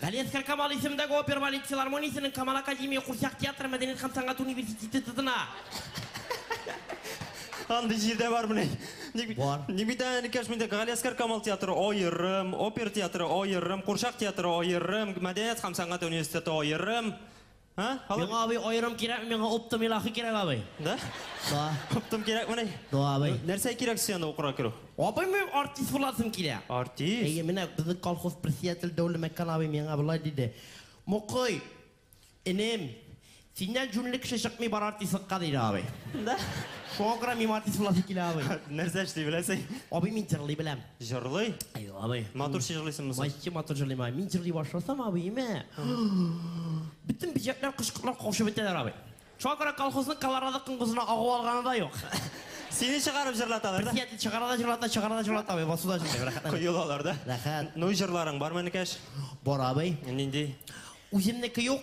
Галиәсгар Камал исемендәге опер балет филармониясенең Камал академия курчак театры мәдәният һәм сәнгать университеты тотына. Андый җирдә бармыни? Ник бит? Бар. Ник бит әле кеш миндә Галиәсгар Камал театры аерым, опер театры аерым, курчак театры аерым, мәдәният һәм сәнгать университеты аерым. Һа? Алып... Миңа абый аерым кирәкме, миңа оптом илахи кирәк абый. Да? Да. Оптом кирәкмени? Да, абый. Нәрсә кирәк сиңа укырга керү? Абый, мин артист буласым килә. Артист? Әйе, менә безнең колхоз председатель Дәүле Мәккән абый миңа болай диде. Мукый, энем, синнән җүнле кеше чыкмый бар артистлыкка диде абый. Да? Шуңа күрә мин артист буласым килә абый. Нәрсә эшли беләсең? Абый, мин җырлый беләм. Җырлый? Әй, абый. Матур җырлыйсыңмы соң? Мачты матур җырлыйм, абый. Мин җырлый башласам, абый, имә. Бөтен бөҗәкләр кычкырып каушап бетәләр, абый. Шуңа күрә колхозның колорадо коңгызына агу алганы да юк. Сине чыгарып җырлаталар да? Диятле чыгара да җырлата, чыгара да җырлата, абый. Басуда җырлый, рәхәт. Коелалар да? Рәхәт. Ну, җырларың бармы, энекәш? Бар, абый. Нинди? Үземнеке юк.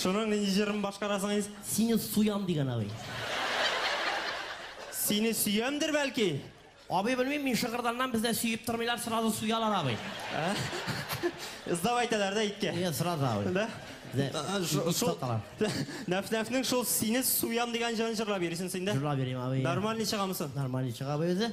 Шуның нинди җырын башкарасың инс? Сине суям дигән абый. Сине сөямдер бәлки? Абый белмим, мин Шыгырданнан бездә сөеп тормыйлар, сразу суялар абый. Ә? Сдап әйтәләр дә иткә. Нет, сразу абый. Да? Дә, А, ш- ит Шул саталар. Нәф-нәфнең шул сине суям дигән җырын җырлап йөрисең син дә? Җырлап йөрим абый. Нормальный чыгамы соң? Нормальный чыга абый үзе.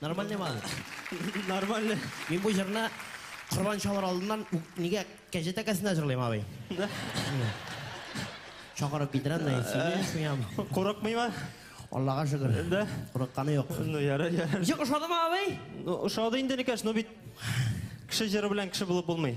Нормальный ма аны? Нормальный. Мин бу җырны корбан чалыр алдыннан ук нигә кәҗә тәкәсендә җырлыйм, абый. Чакырып китерәм, нәй сөйли, суям. Курыкмыйма? Аллага шөкер. Да? Курыкканы юк. Ну, ярар, ярар. Ничек, ошадымы, абый? Ну, ошады инде, Никаш, ну бит кеше җыры белән кеше булып булмый.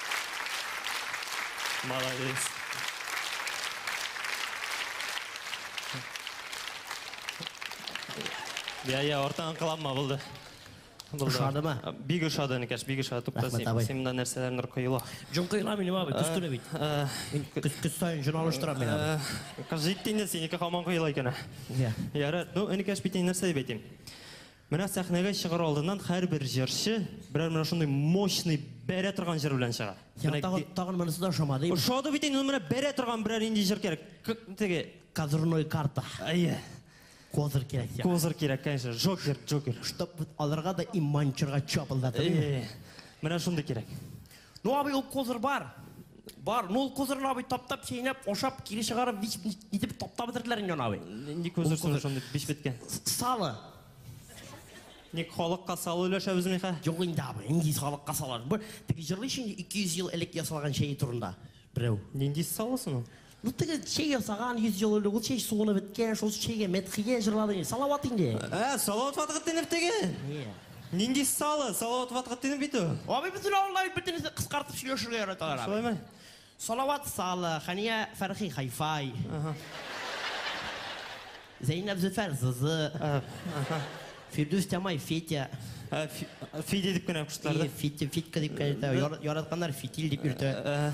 Молодец. Я, я, ортан кыланма булды. Ошады ма? Бик ошады, Никәш, бик ошады. Тукта, син монда нәрсәләр нур коела. Җон коела минем абый, төс түле бит. Мин көз көз саен җон алыштырам мин абый. Кыз җитте инде синеке хаман коела икән. Я. Ярат, ну, Никәш бит нәрсә дип әйтим. Менә сәхнәгә чыгар алдыннан һәрбер җырчы берәр менә шундый мощный, бәрә торган җыр белән чыга. Сиңа Менә тагын, ге- тагын монысы да ошамадыймы? Ошады бит инде, ну менә бәрә торган берәр нинди җыр кирәк. К- Теге, Козырной карта. әйе, Козыр кирәк сиңа. козыр кирәк, конечно, Джокер, Джокер. Чтоб вот алырга да и манчырга чапылдатыр. Әйе, менә шундый кирәк. Ну абый ул козыр бар. Бар, ну ул козырны абый таптап, чәйнәп, ашап, кире чыгарып, бич нитеп таптап бетерделәр инде аны абый. Нинди козыр соң шундый биш беткән? Салы. Ник халыкка салы өләшәбез михә? Юк инде абый, нинди халыкка салар. Бу теге җырлый шундый 200 ел элек ясалган чәй турында. Берәү. Нинди салы соң ул? Ну теге чәй ясаган йөз ел элек ул чәй суынып беткән, шул чәйгә мәдхия җырлады инде. Салават инде. Ә, Салават Фатхетдинов теге? Е. Нинди салы, Салават Фатхетдинов бит ул. Абый, безнең авылда бит бөтенесе кыскартып сөйләшергә яраталар абый. Шулаймы? Салават Салы, Хәния Фәрхи Хай-Фай. Аһа. Зәйнәп Зөфәр, Зызы. Фирдүс Тямай, Фетя. Фидя дип кенә куштылар да? Фитя, Фитка дип кенә йөртә. Яратканнар Фитиль дип йөртә.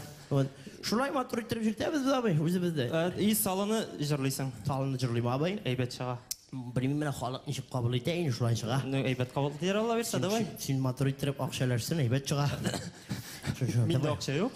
Шулай матур иттереп йөртәбез без абый, үзебездә. И салыны җырлыйсың? Салыны җырлыйм абый. Әйбәт чыга. Белмим менә халык ничек кабул итә инде шулай чыга. Ну, әйбәт кабул итәләр, Алла бирса, давай. Син матур иттереп акча өләрсен, әйбәт чыга. Миндә акча юк.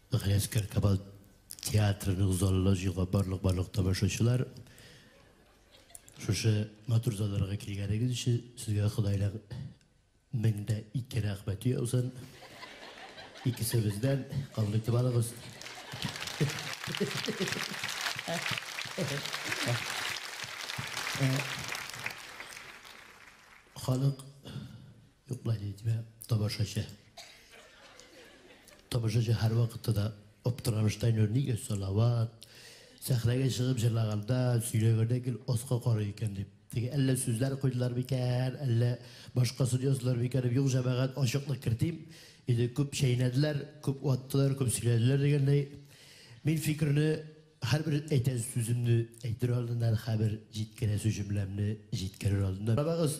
Галиәсгар Камал театрының залына җыелган барлык барлык тамашачылар, шушы матур залларга килгәнегез өчен сезгә Ходайның меңдә ике рәхмәте яусын. Икесебездән кабул итеп алыгыз. Халык Юк, былай да әйтмә, тамашачы. Тамашачы һәр вакытта да аптырабыз Тайнур, нигә Салават? Сәхнәгә чыгып җырлаганда, сөйләгәндә гел аска карый икән дип. Теге әллә сүзләр куйдылар микән, әллә башкасын яздылар микән дип, юк, җәмәгать, ачыклык кертим. Инде күп чәйнәделәр, күп ваттылар, күп сөйләделәр дигәндәй. Мин фикерне Һәрбер әйтәсе сүземне әйтер алдыннан, һәбер җиткерәсе җөмләмне җиткерер алдыннан, карагыз,